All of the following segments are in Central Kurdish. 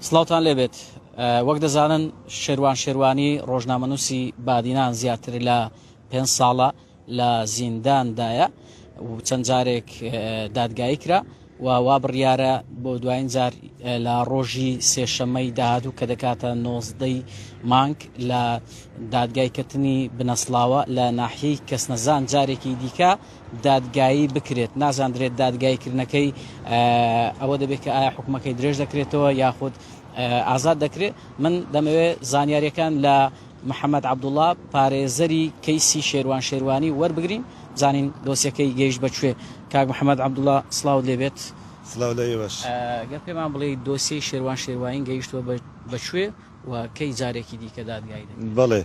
سڵاوتان لێ بێت وەک دەزانن شێروان شێروانی ڕۆژنامەنووسی بادینان زیاتر لە پێنج ساڵە لە زینداندایە و چەند جارێک دادگایی کرا و وا بڕیارە بۆ دوایین جار لە ڕۆژی سێشەمەی داهاتوو کە دەکاتە نۆزدەی مانگ لە دادگای کەتنی بنەسڵاوە لە ناحیەی کەسنەزان جارێکی دیکە دادگایی بکرێت نازاندرێت دادگایی کردنەکەی ئەوە دەبێت کە ئایا حکومەکەی درێژ دەکرێتەوە یاخود ئازاد دەکرێت من دەمەوێت زانیاریەکان لە محەممەد عبدوڵا پارێزەری کەیسی شێروان شێروانی وەربگرین زانین دۆسیەکەی گەیشت بەکوێ کاک محەممەد عبدوڵا سلااو لێبێت سلااو لە ئێوەش گەر پێمان بڵێ دۆسیەی شێروان شێروانی گەیشتوە بەکوێ و کەی جارێکی دیکە دادگایی دەکرێت.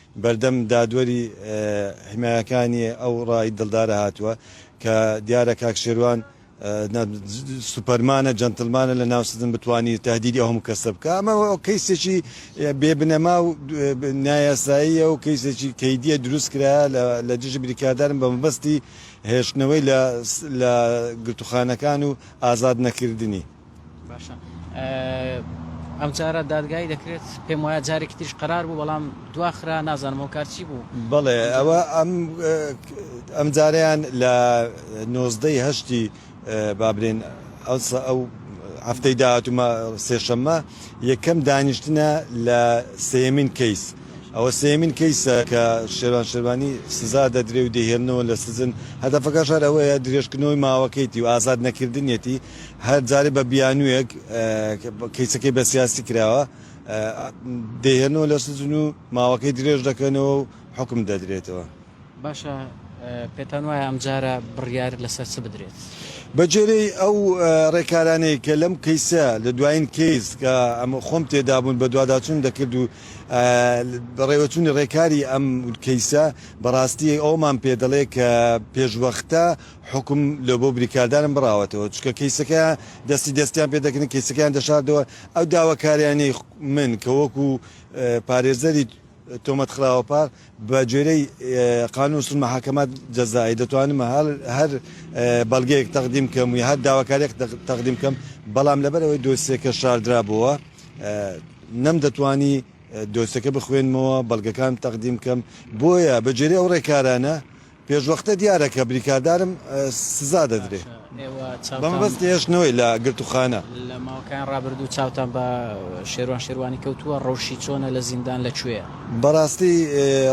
بەردەم دادوەری حمایەکانی ئەو ڕای دڵدارە هاتووە کە دیارە کاک شێروان سوپەرمانە جەنتڵمانە لە ناو سجن بتوانی تەهدیدی ئەو هەموو کەسە بکا ئەمە کەیسێکی بێ بنەما و نایاساییە و کەیسێکی کەیدیە دروست کرا لە دژی بریکاردارن بە مەبەستی هێشتنەوەی لە گرتوخانەکان و ئازاد نەکردنی باشە ئەمجارە دادگایی دەکرێت پێم وایە جارێکی تریش قرار بوو بەڵام دواخرا نازانم ئەو کارچی بوو بەڵێ ئەوە ئەم جاریان لە نۆزدەی هەشتی بابرێن ئەوسا ئەو هەفتەی داهاتومە سێشەممە یەکەم دانیشتنە لە سێمین کەیس ئەوە سێمین کەیسە کە شێوان شێوانی سزا دەدرێ و دەهێنەوە لە سزن هەدەفەکە شار ئەوەیە درێژکردنەوەی ماوەکەیتی و ئازاد نەکردنیەتی هەر جارێ بە بیانوویەک کەیسەکەی بە سیاسی کراوە، دەیهێنەوە لە سجن و ماوەکەی درێژ دەکەنەوە و حوکم دەدرێتەوە. باشە پێتان وایە ئەمجارە بڕیار لەسەر چ بدرێت؟ بەگوێرەی ئەو رێکارانەی کە لەم کەیسە لە دوایین کەیس کە خۆم تێدابوون بەدواداچوونم دەکرد و بەڕێوەچوونی رێکاری ئەم کەیسە بەڕاستی ئەوەمان پێدەڵێت کە پێشوەختە، حوکم لۆ بۆ بریکاردارم بڕاوەتەوە چونکە کەیسەکەیان دەستی دەستیان پێ دەکردن کەیسەکەیان دەشاردەوە ئەو داواکاریانەی من کە وەکو پارێزەری تۆمەت خراوە پار بە گوێرەی قانون سول محاکمات جەزائی دەتوانم هەر هەر بەڵگەیەک تەقدیم کەم و هەر داواکاریەک تەقدیم کەم بەڵام لەبەر ئەوەی دۆسیەکە شاردرابووە نەم دەتوانی دۆسەکە بخوێنمەوە بەڵگەکان تەقدیم کەم بۆیە بەجێری ئەو ڕێکارانە پێشوەختە دیارە کە بریکاردارم سزا دەدرێ بە مەبەستی هێشتنەوەی لە گرتووخانە. لە ماوەکانی ڕابردوو چاوتان بە شێروان شێروانی کەوتووە، ڕەوشی چۆنە لە زیندان لە کوێیە؟ بەڕاستی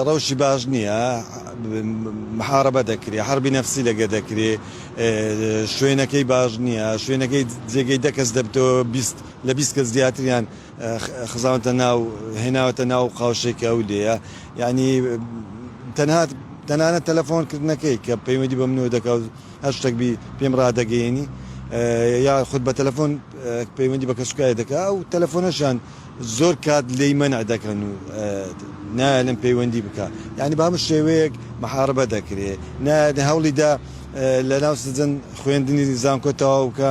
ڕەوشی باش نییە، محارەبە دەکرێ، حەربی نەفسی لەگە دەکرێ، شوێنەکەی باش نییە، شوێنەکەی جێگەی دە کەس دەبتەوە لە بیست کەس زیاتریان. خزاونتە ناو هێناوەتە ناو قاوشەی کە ئەو لێیە یانی تەنها تەنانە تەلەفۆن کردنەکەی کە پەیوەندی بە منەوە دەکات هەر شتێک بی پێم ڕادەگەیەنی یا خود بە تەلەفۆن پەیوەندی بە کەسوکای دەکا ئەو تەلەفۆنەشان زۆر کات لی مەنع دەکەن و نایەلم پەیوەندی بکە یعنی بە هەموو شێوەیەک محاربە دەکرێ نایە هەوڵیدا لە ناو سجن خوێندنی زانکۆ تەواو بکە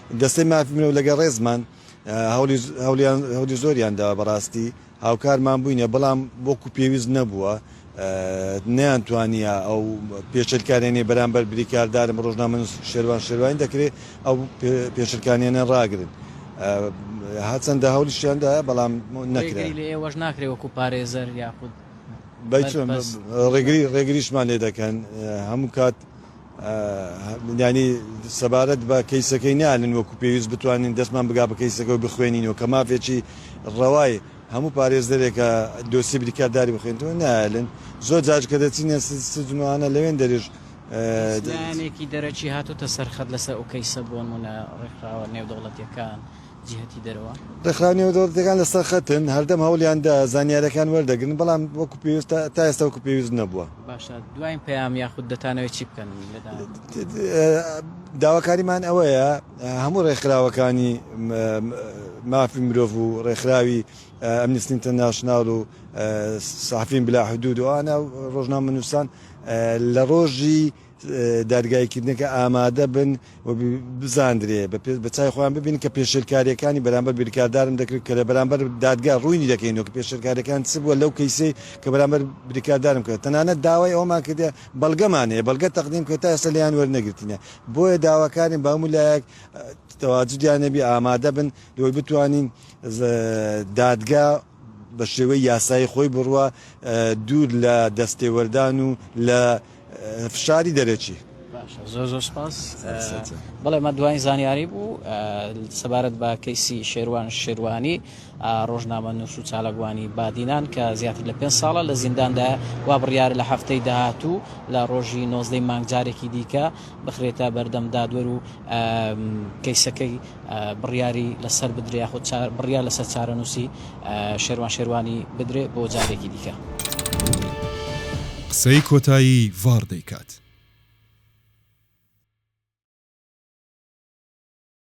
دەستەی مافی مرۆڤ لەگەڵ ڕێزمان هەوڵی زۆریان داوە بەڕاستی هاوکارمان بووینە بەڵام وەکو پێویست نەبووە نەیان توانیە ئەو پێشلکارێنی بەرامبەر بریکاردارم ڕۆژنامەن شێوان شێوان دەکرێت ئەو پێشلکانیانە ڕاگرن هەچەندە هەولیشیاندا بەڵام نەکرێت لە ئێوەش ناکرێ وەکو پارێزەر یاخود ڕێگری ڕێگریشمان لێ دەکەن هەموو کات یانی سەبارەت بە کەیسەکەی نالن وەکو پێویست بتوانین دەستمان بگا بە کەیسەکە و بخوێنینەوە کە مافێکی ڕەوای هەموو پارێزەرێکە دۆسیەی بریکارداری بخوێنێتەوە نالن زۆر جاش کە دەچینە سجن و هانا لەوێن دەرێژ هیچ لایەنێکی دەرەکی هاتۆتە سەر خەت لەسەر ئەو کەیسە بۆنمونە ڕێکخراوە نێودەوڵەتیەکان؟ جیهەتی دەرەوە. ڕێکخراوە نێودەوڵەتییەکان لەسەر خەتن، هەردەم هەوڵیان دا زانیارییەکان وەردەگرن، بەڵام وەکو پێویست تا ئێستا وەکو پێویست نەبووە. باشە دوایین پەیام یاخود دەتانەوێت چی بکەن لە داهاتوودا؟ داواکاریمان ئەوەیە هەموو ڕێکخراوەکانی مافی مرۆڤ و ڕێکخراوی ئەمنستی ئینتەرناشناڵ و سەحەفین بلا حدود و ئەوانە ڕۆژنامەنووسان لە ڕۆژی دادگاییکردنەکە ئامادە بن و بزاندرێ بە چای خۆیان ببینن کە پێشێلکارییەکانی بەرامبەر بریکاردارم دەکرد کە لە بەرامبەر دادگا ڕووینی دەکەینەوە کە پێشێلکارییەکان چ بووە لەو کەیسەی کە بەرامبەر بریکاردارم کرد تەنانەت داوای ئەوەمان کردیە بەڵگەمان هەیە بەڵگە تەقدیم کرد تا ئێستا لێیان وەرنەگرتینە بۆیە داواکارین بە هەموو لایەک تەواجدیان نەبی ئامادە بن لەوەی بتوانین دادگا بە شێوەی یاسایی خۆی بڕوا دوور لە دەستێوەردان و لە فشاری دەرەکی. باشە زۆر زۆر سپاس بەڵێ ئەمە دوایین زانیاری بوو سەبارەت بە کەیسی شێروان شێروانی ڕۆژنامە نووس و چالاکوانی بادینان کە زیاتر لە پێنج ساڵە لە زینداندا وا بڕیارە لە هەفتەی داهاتوو لە ڕۆژی نۆزدەی مانگ جارێکی دیکە بخرێتە بەردەم دادوەر و کەیسەکەی بڕیاری لەسەر بدرێ یاخود بڕیار لەسەر چارەنووسی شێروان شێروانی بدرێ بۆ جارێکی دیکە. قسەی کۆتایی ڤاڕ دەیکات.